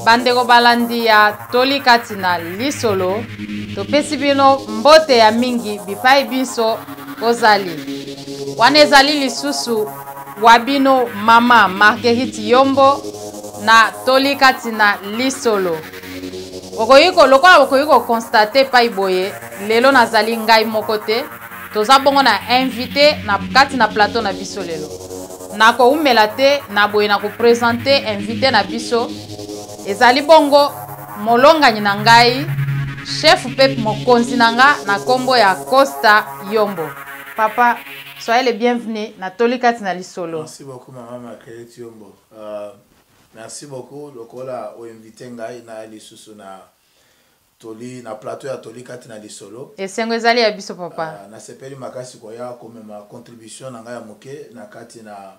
bandeko balandi ya toli kati na lisolo topesi bino mbote ya mingi bipai binso ozali wana ezali lisusu wa bino mama marguerite yombo na toli kati na lisolo okoki lokola bokoki kokonstate epai boye lelo nazali ngai moko te Toza bongo na invité na kati na plateau na biso lelo. Nakoumela te na boye na kopresente invité na biso ezali bongo molongani na ngai chef mpe mokonzi na nga na nkombo ya Costa Yombo. Papa, soyez le bienvenu na toli kati na lisolo. Merci beaucoup maman Marguerite Yombo. Uh, merci beaucoup lokola o invite ngai na lisusu na Toli na plateau ya Toli kati na lisolo. Esengo ezali ya biso papa. Uh, nasepeli makasi koya komema contribution na ngai ya moke na kati na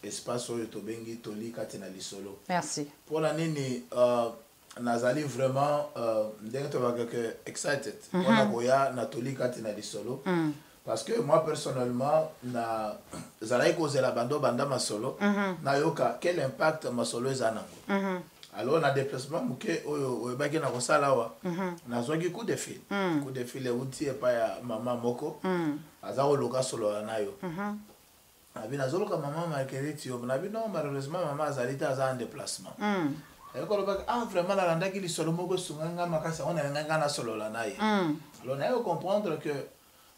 espace oyo tobengi Toli kati na lisolo. Merci. Pona nini uh, nazali vraiment uh, ndenge tolobaka que excited mm -hmm. pona koya na Toli kati na lisolo. Mm. parce que moi personnellement na zalaki kozela bando banda masolo mm -hmm. nayoka quel impact masolo eza nango mm -hmm. alors na déplacement moke oyo oyebaki na kosala awa mm -hmm. nazwaki coup de fil mm -hmm. coup de fil euti epai ya mama moko mm -hmm. aza koluka solola na yo mm -hmm. abi nazoluka mama marguerite yo nabi non malheureusement mama azali te aza en déplacement mm -hmm. ayoko alobaki ah vraiment nalandaki lisolo moko esunga nga makasi yango nalingai nga nasolola na ye mm -hmm. alors naye kocomprendre que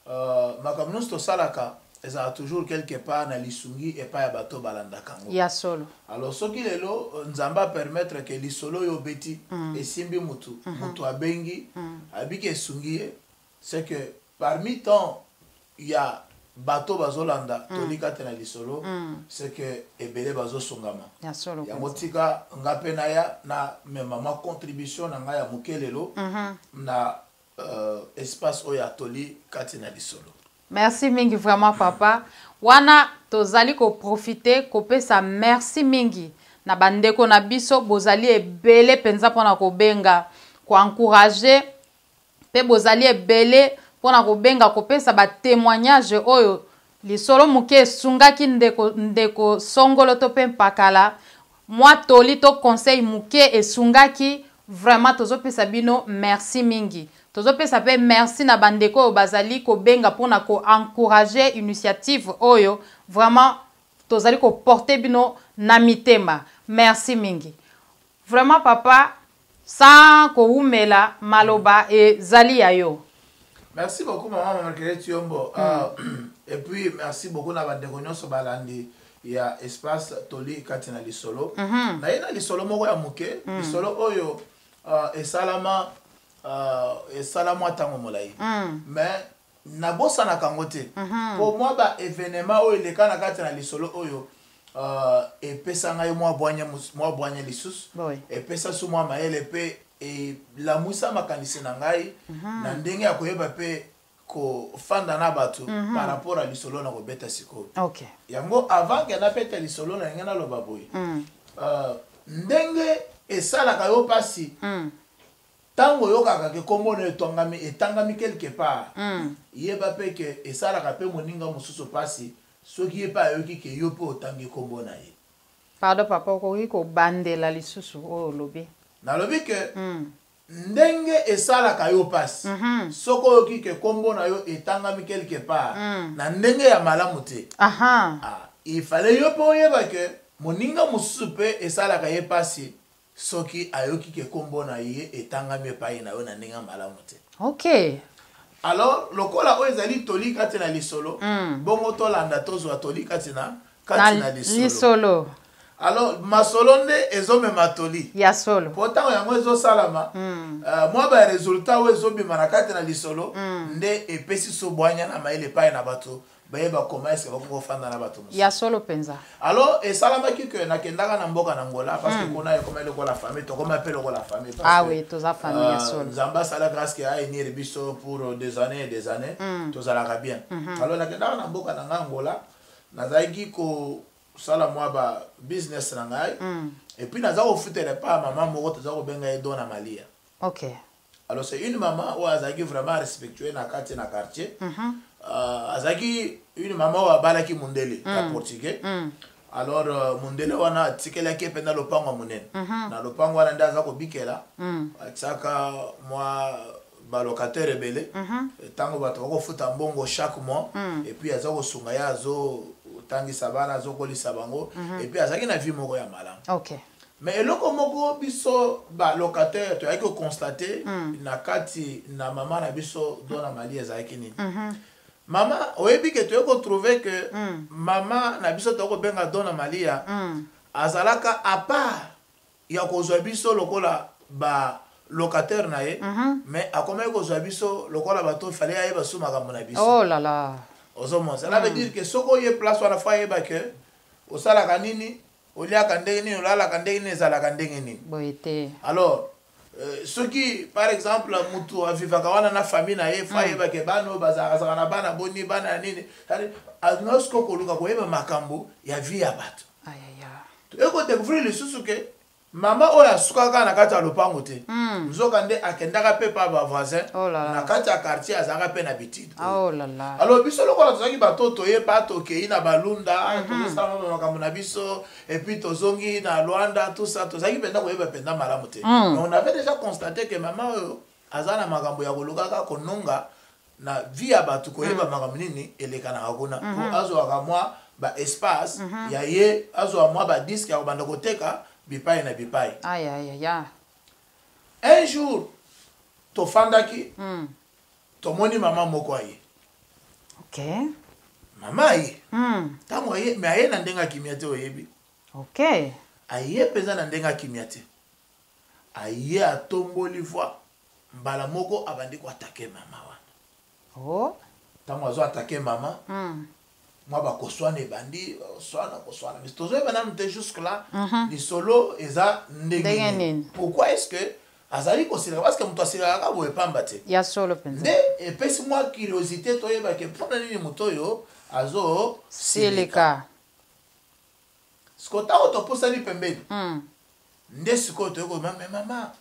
Euh, makambo nyonso tosalaka ezalaka toujours quelque part na lisungi epai ya bato balandaka yango ya solo alors soki lelo euh, nzambe apermettre ke lisolo oyo obeti mm. esimbi motu mm -hmm. motu abengi mm. abiki esungi ye c'est que parmi temps ya bato bazolanda mm. tolika te na lisolo mm. c'est que ebele bazosungama yango tika nga mpe naya na mema mwa contribution na ngai ya moke lelo mm -hmm. na euh, espace oyo ya toli kati na lisolo merci mingi vraiment papa wana tozali koprofite kopesa merci mingi na bandeko na biso bozali ebele mpenza mpo na kobenga koencourage mpe bozali ebele mpo na kobenga kopesa batemoignage oyo Lisolo moke esungaki ndeko, ndeko Songolo to pe Mpakala, mwa toli to conseil moke esungaki, vraiment tozo pesa bino merci mingi. Tozo pesa pe merci na ba ndeko oyo bazali kobenga pona ko encourager initiative oyo, vraiment tozali ko porter bino na mitema. Merci mingi. Vraiment papa sans kowumela maloba ezali ya yo. Merci beaucoup maman Marguerite Tiombo. Mm. Uh, et puis merci beaucoup na bandeko nyonso balandi ya espace toli kati na lisolo. Mm -hmm. Naye na lisolo moko ya moke, mm. lisolo oyo uh, esalama uh, esalamwa ntango molai. Mm. Mais nabosanaka yango te mpo mwa ba evenema oyo eleka na kati na lisolo oyo uh, epesa ngai mwa bwanya mwa bwanya lisusu epesa su mwa mayele mpe elamwisa makanisi na ngai mhm. na ndenge ya koyeba mpe kofanda na bato mhm. par rapport ya lisolo na kobeta sikoyo yango avant ke nabeta lisolo na ndenge naloba boye mhm. uh, ndenge esalaka yo mpasi Tango oyokaka que kombo nayo etwangami, etangami quelque part, yeba pe que esalaka pe moninga mosusu pasi soki ye pe ayoki que yo pe otangi kombo na ye. Pardon papa okoki kobandela lisusu oyo olobi. Nalobi que ndenge esalaka yo pasi soki oyoki que kombo na yo etangami quelque part na ndenge ya malamu te, ah il fallait yo pe oyeba que moninga mosusu pe esalaka ye pasi Soki ayoki ke kombo na ye etangami epayi na yo na ndenge ya malamu te. Okay. Alors, lokola oyo ezali toli kati na lisolo, mm. bongo tolanda tozwa toli kati na kati na, na lisolo. lisolo. Alors, masolo nde ezomema toli. Ya solo. Mpo ntango yango ezosalama, mm. uh, mwa ba resultat oyo ezobima na kati na lisolo mm. nde epesi sobwanya na mayele epai na bato baye bakoma eske bakoki kofanda na bato mosusu ya solo mpenza alors esalamaki ke nakendaka na mboka na ngola parce que mm. kuna ekoma lokola famille tokoma mpe lokola famille ah oui toza famille ya euh, solo nzambe asala grâce ke ayenir biso pour euh, des années et des années mm. tozalaka bien mm-hmm. alors nakendaka na mboka na ngai ngola nazalaki kosala mwa ba business na ngai mm. epuis naza kofutela epa mama moko toza kobenga ye dona malia okay alors c'est une maman oyo azalaki vraiment respectueux na kati na quartier mm -hmm. uh, azalaki une maman oyo abalaki mundele mm. ya portugais mm. alors uh, mundele wana atikelaki mpe na lopango ya monene mm -hmm. na lopango wana nde aza kobikela mm. atiaka mwa balocataire ebele ntango mhm. bato bakofuta mbongo chaque mois mm. epuis aza kosunga ye azotangisa bana azokolisa bango mhm. epuis azalaki na vie moko ya malamu okay. Mais eloko moko biso ba locataire toyaki ko constater mm. na kati na mama na biso dona mali ezalaki nini mm -hmm. mama oyebi ke toyei kotrouve ke mm. mama na biso toyei kobenga dona malia mm. azalaka apart ya kozwa biso lokola ba locataire na ye mm -hmm. mais akomaki kozwa biso lokola bato fale ayeba su makambo na biso oh la la. ozomona cela veut mm. dire ke soki oye place wana fo ayeba ke osalaka nini oliaka ndenge nini olalaka ndenge nini ezalaka ndenge nini boye te alors Euh, soki par exemple mutu avivaka wana na famille na ye fo mm. ayeba ke bana oyo bazalakazaka na bana boni bana ya nini noske okoluka koyeba makambo ya vie ya bato ekodécouvrir lisusu ke mama oyo asukaka na kati ya lopango te mm. nzoka nde akendaka mpe pa bavoisin oh na kati ya quartier azalaka mpe na bitidi Ah, oh alors biso lokola tozalaki bato toyeba tokei na balunda mhm. tozosala mama makambo na biso epuis tozongi na lwanda tout ça tozalaki mpenza koyeba mpenza malamu te mm. mais on avait déjà constaté que mama oyo aza na makambo ya kolukaka kononga na vie ya bato koyeba mm. makambo nini elekanaka kuna po mhm. azwaka mwa baespace mhm. ya ye azwa mwa badiske ya kobanda koteka bipai na bipai un jour tofandaki mm. tomoni mama moko aye okay. mama aye ntango hmm. aye me aye na ndenge akimia te oyebi okay. aye mpenza na ndenge akimia te aye atomboli voi mbala moko abandi koatake mama wana oh. ntango oh. azo atake mama hmm. mwa bakoswana ebandi koswana koswana mais tozoyeba nanu te jusque là mhm. lisolo eza ndenge nini pourquoi est ce que azali kosilaka parce que moto asilaka kaka boye pamba te ya solo mpenza nde epesi mwa curiosité toyeba ke mpo na nini moto oyo azosilika sikoyo ntango topusani pembeni hmm. nde sikoyo toyei koyeba me mama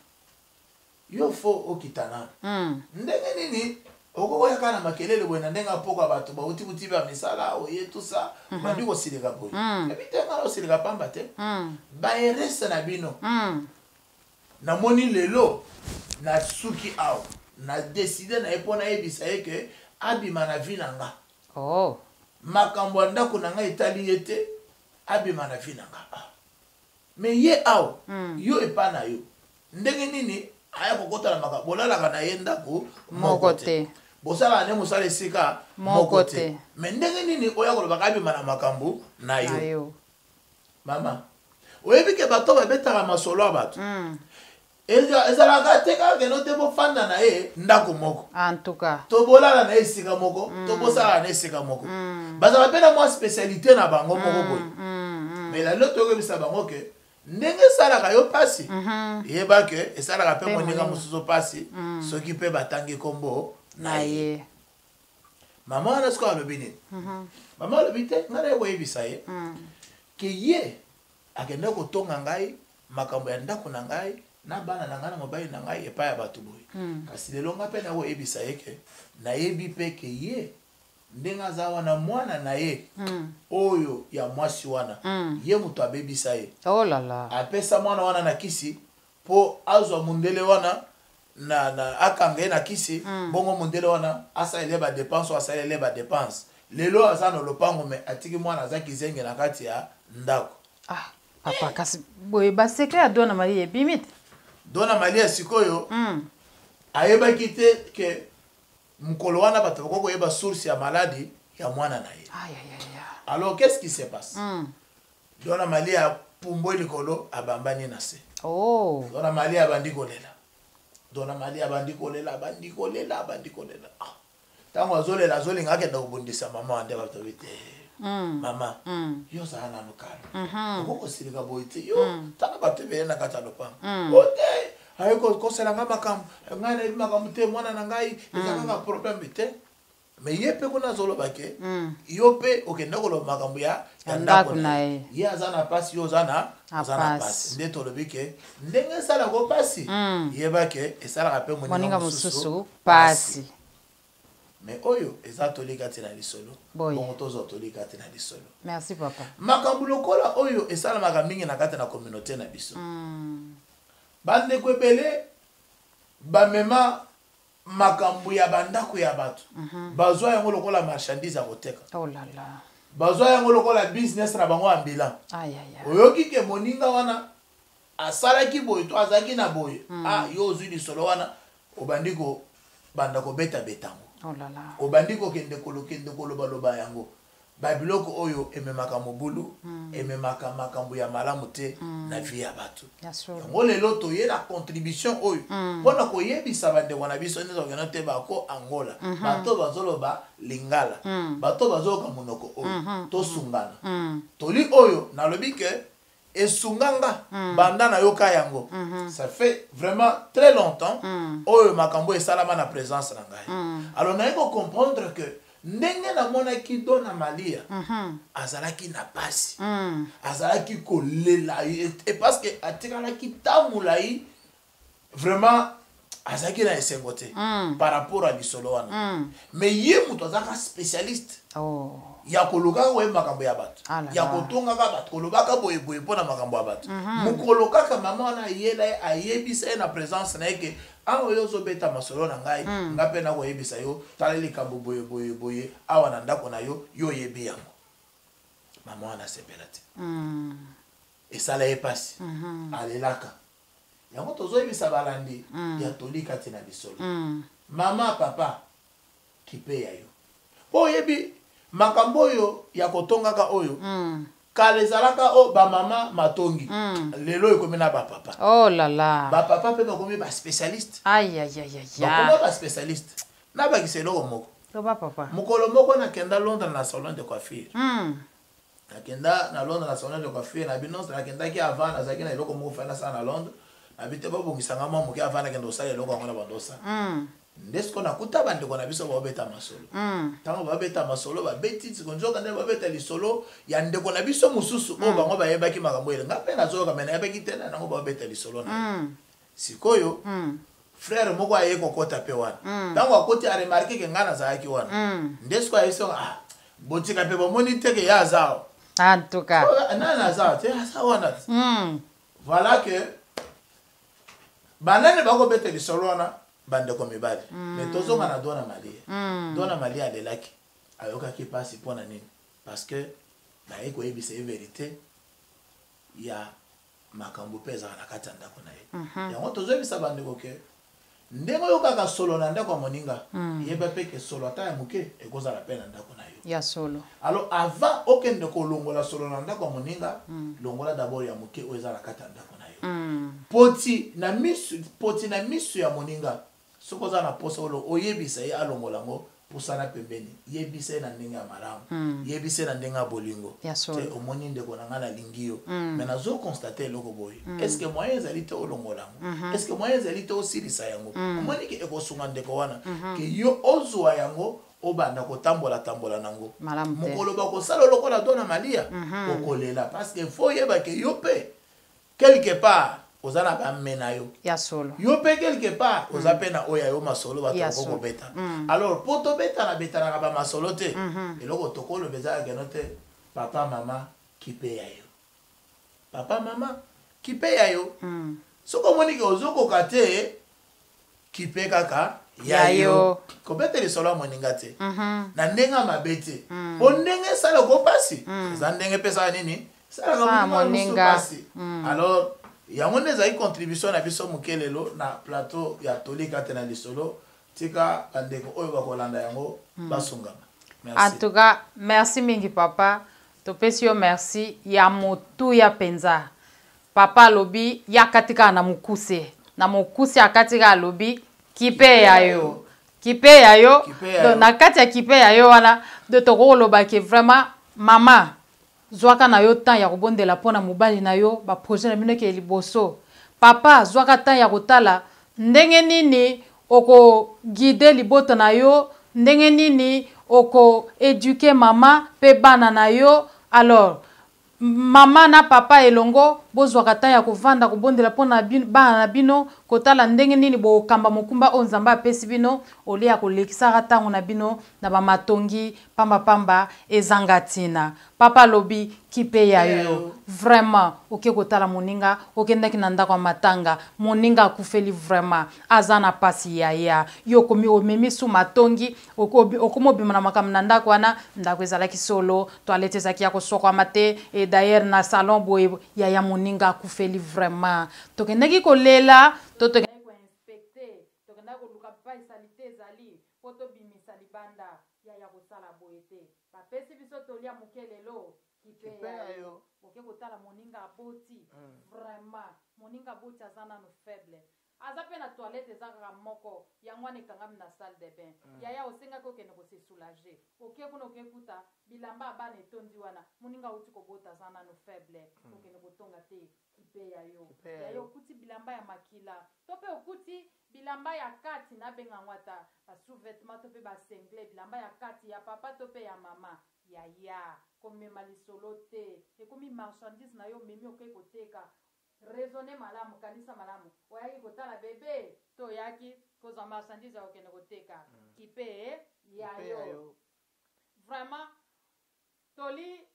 Yo faux okita nanu ndenge nini okoki oya kaka na makelele boye na ndenge ya pokwa batu bawuti buti ba misala oye tout ça obandi kosilika boye nayebi te nga naosilika pamba te ba erreurs na bino namoni lelo nasuki awa na decide na ye po nayebisa ye que abima na vie na nga makambo ya ndaku na nga etali ye te abima na vie na nga. Mais ye awa yo epa na yo ndenge nini aya kokota na makambo bolalaka na ye ndako moko te bosalaka nde mosala esika moko te me ndenge nini oya kolobaka abima na makambo na yo mama oyebi ke bato babetaka masolo ya bato mm. ezalaka te kaka keno te bofanda na ye ndako moko antuka to bolala na ye esika moko mm. to bosalaka na esika moko mm. bazalaka mpe na mwa spécialité na bango mm, moko boye mm. mais lalilo toyokebisa bango ke ndenge esalaka yo mpasi mm -hmm. yeba ke esalaka mpe moninga mosusu mpasi mm. soki mpe batangi nkombo na ye mama wana sikoyo alobi nini mm -hmm. mama alobi te ngai naye koyebisa ye mm. ke ye akenda kotonga ngai makambo ya ndako na ngai na bana na ngai na mobali na ngai epai ya bato boye mm. kasi lelo ngai mpe nakoyebisa ye ke nayebi mpe ke ye ndenge aza wana mwana na ye mm. oyo ya mwasi wana mm. ye moto abebisa ye oh lala. apesa mwana wana na kisi mpo azwa mondele wana na, na akanga ye na kisi mm. bongo mondele wana asalele badepense oyo asalele badepense lelo aza na lopango me atiki mwana aza kizenge na kati ya ndako ah. papa kasi boye basecret ya dona maria ebimi te dona maria sikoyo mm. ayebaki te ke mokolo wana bato bakoki koyeba source ya maladi ya mwana na ye alors qu'est ce qui se passe mm. dona maria apumbwe likolo abambani na se oh. dona maria abandi kolela dona maria abandi kolela abandi kolela abandi kolela ah. ntango azolela azolinga akenda kobundisa mama nde bato babi te mm. mama mm. yo ozala nanu kala mm-hmm. okoki kosilika boye te yo mm. tala bato ebele na kati ya lopango o te aye kokosela ngai makambo ngai nayebi makambo te mwana na ngai eza kaka probleme te me ye mpe kuna azoloba ke yo mpe okenda koloba makambo ya ndako na ye ye aza na mpasi yo oza na oza na mpasi nde tolobi ke ndenge esalaka mpasi yeba ke esalaka mpe moninga mosusu pasi me oyo eza toli kati na lisolo bongo tozwa toli kati na lisolo merci papa makambo lokola oyo esalamaka mingi na kati na communauté na biso mm. bandeko ebele bamema makambo ya bandako ya bato mm -hmm. bazwa yango lokola marchandise ya koteka oh la la. bazwa yango lokola business na bango ambulant oyoki ke moninga wana Asalaki boye to azalaki na boye. Ah, yo ozwi lisolo wana, obandi kobanda kobetabeta yango. Oh obandi kokende kolokende kolobaloba yango. Babiloko oyo ememaka mobulu, ememaka makambo ya malamu te na vie ya bato. Yango lelo toye na contribution oyo mpo na koyebisa bandeko na biso nde tokokende oteba ako Angola, bato bazoloba Lingala, bato bazoyoka monoko oyo, tosungana. Toli oyo nalobi ke esunga nga mm. banda nayoka yango mm -hmm. ça fait vraiment très longtemps mm. oyo makambo esalama na présence na ngai mm. alors naye kocomprendre que ndenge namonaki dona malia mm -hmm. azalaki na pasi mm. azalaki kolela ye parce que atikalaki ntango molai vraiment azalaki na esengo te mm. par rapport ya lisolo wana mm. mais ye moto azalaka spécialiste oh. ya kolukaka oye makambo ya bato ah ya kotongaka bato kolobaka boyeboye mpo na makambo ya bato mhm. mokolo kaka mama wana ayela ye ayebisa ye na présence na ye ke awa yo ozobeta masolo na ngai mm. nga mpe nakoyebisa yo tala likambo boyeboyeboye awa na ndako na yo yo oyebi yango mama wana asepela te mm. esala ye mpasi mhm. alelaka Yango tozoyebisa balandi ya toli kati na lisolo. Mama, papa, kipe ya yo. Po oyebi makambo oyo ya kotongaka oyo, kala ezalaka o ba mama matongi, lelo ekomi na ba papa. Oh la la. Ba papa pe bakomi ba specialiste. Ayayaya. Bakoma ba specialiste. Nabakisa eloko moko. Loba papa. Mokolo moko nakenda Londres na salon de coiffure. nakenda na londres na salon de coiffure na bi nonso nakendaki avant nazalaki na eloko moko fai nasala na londres na bi te babongisa nga mwa moke avant nakenda kosala eloko yango na bandosa mm. nde sikoyo nakuta bandeko na biso babeta masolo ntango mm. babeta masolo babeti siko nzoka nde babeta lisolo ya ndeko na biso mosusu oyo mm. bango bayebaki makambo ele nga mpe nazoyoka me nayebaki te na yango babeta lisolo na sikoyo mm. frère moko aye kokota mpe wana mm. ntango mm. akoti aremarke ke ngai nazalaki wana mm. nde sikoyo ayebisaka ah, botika mpe bomoni te ke ye aza awa en tout cas nani aza te aza wana te mm. voilà ke banani bakobeta lisolo wana bandeko mibali mm. me tozonga na dona malia mm. dona malia alelaki ayokaki mpasi mpo na nini parce que naye koyebisa ye verité ya makambo mpe ezalaka na kati ya ndako na ye mhm. yango tozoyebisa bandeko ke ndenge oyokaka solo na ndako ya moninga mhm. yeba mpe ke solo ata ya moke ekozala mpe na ndako na yo ya solo alors avant okende kolongola solo na ndako ya moninga mhm. longola dabord ya moke oyo eza na kati ya ndako na yo poti na misu poti na misu ya moninga Soki oza na posa olo oyebisa ye alongola yango pusana pembeni yebisa ye na ndenge ya malamu yebisa ye na ndenge ya bolingo te omoni ndeko na ngai nalingi yo mais nazo constate eloko boye est ce que moyen ezali te olongola yango est ce que moyen ezali te osilisa yango omoni ke ekosunga ndeko wana ke yo ozwa yango obanda kotambola tambola na yango mokolo bakosala lokola dona malia okolela parce que fo oyeba ke yo mpe Quelque part oza na ba mme na yo. Ya solo. Yo pe quelque part oza pe na oyo ya yo masolo bato bako kobeta. Alors po tobetana betanaka ba masolo te. Eloko tokoloba eza ya keno te papa maman kipe ya yo. Papa maman kipe ya yo. Soki omoni que ozo koka te. kipe kaka ya yo kobeta lisolo ya moninga te mhm. na ndenge ya mabe te mm. po ndenge esala oko mpasi mm. eza ndenge mpe esala nini esalaka moninga mpasi mm. alors yango nde ezali contribution na biso moke lelo na plateau ya tolika te na lisolo tika bandeko oyo bakolanda yango basungama en tout cas merci mingi papa topesi yo merci ya motuya mpenza Papa alobi ye akati kaka na mokuse na mokuse akati kaka alobi kipe ya yo kipe ya yo donc na kati ya kipe ya yo wana donc tokoki koloba ke vraiment mama zwaka na yo temps ya kobondela mpo na mobali na yo baprojet na bino ekee liboso papa zwaka temps ya kotala ndenge nini okoguide libota na yo ndenge nini okoeduke mama mpe bana na yo alors Maman na papa elongo bozwaka temps ya kovanda kobondela mpo na bana na bino, kotala ndenge nini bokokamba mokumba oyo Nzambe apesi bino au lieu ya kolekisaka ntango na bino na ba matongi pamba pamba ezanga ntina. Papa alobi kipe ya yo. Vraiment oke kotala moninga okendaki na ndako ya matanga moninga akufeli vraiment aza na pasi yaya yo okomi omemi su matongi okoma obima na makambo na ndako wana ndako ezalaki solo toilette ezalaki ya kosokwama te e d'ailleurs na salon boye yaya moninga akufeli vraiment tokendaki kolela to tokendaki koinspecte tokendaki koluka pai salite ezali mpo tobimisa libanda yaya kosala boye te bapesi biso toli ya moke lelo kipeyayo oke kotala moninga aboti hmm. vraiment moninga aboti aza nano faible Aza pe na toilette eza kaka moko yango wana ekangami na salle de bain yaya osengaki okende ko se soulager oke kuna oke kuta bilamba ya bana etondi wana muninga awuti kobota aza nanu faible okende kotonga te kipe ya yo yaya okuti bilamba ya makila to pe okuti bilamba ya kati na benga yango ata ba sous vetements to pe ba singlet bilamba ya kati ya papa to pe ya mama yaya komema lisolo te ekomi marchandise na yo omemi oke koteka Raisonner malamu, kanisa malamu. Oyaki kotala bebe? To oyaki kozwa marchandise ya kokende koteka? Kipe ya yo. Vraiment, toli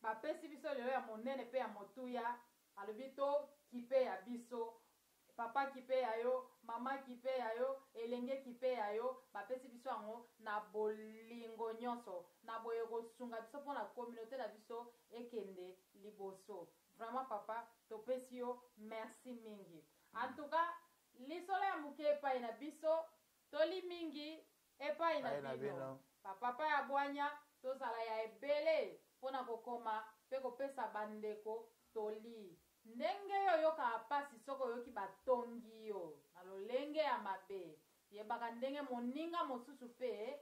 bapesi biso lelo ya monene mpe ya motuya, alobi to kipe ya biso. Papa kipe ya yo, mama kipe ya yo, elenge kipe ya yo, bapesi biso yango na bolingo nyonso, na boye ekosunga biso mpo na communaute na biso ekende liboso. Vraiment papa topesi yo merci mingi en tout cas lisolo ya moke epai na biso toli mingi epai na bino bapapa ya bwanya tozala ya ebele mpo na kokoma mpe kopesa bandeko toli ndenge yo oyokaka mpasi soki oyoki batongi yo na lolenge ya mabe yebaka ndenge moninga mosusu mpe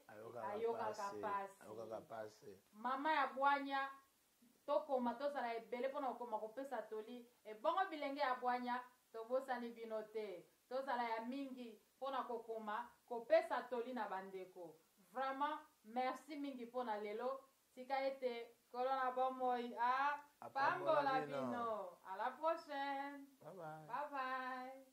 ayokaka mpasi mama ya bwanya Tokoma, tozala ebele mpo na kokoma kopesa toli, ebongo bilenge ya bwanya, tobosani bino te. Tozala ya mingi mpo na kokoma kopesa toli na bandeko. Vraiment, merci mingi mpo na lelo. Tika ete Nkolo na bomoi a pambola bino. A la prochaine. Bye bye. Bye bye.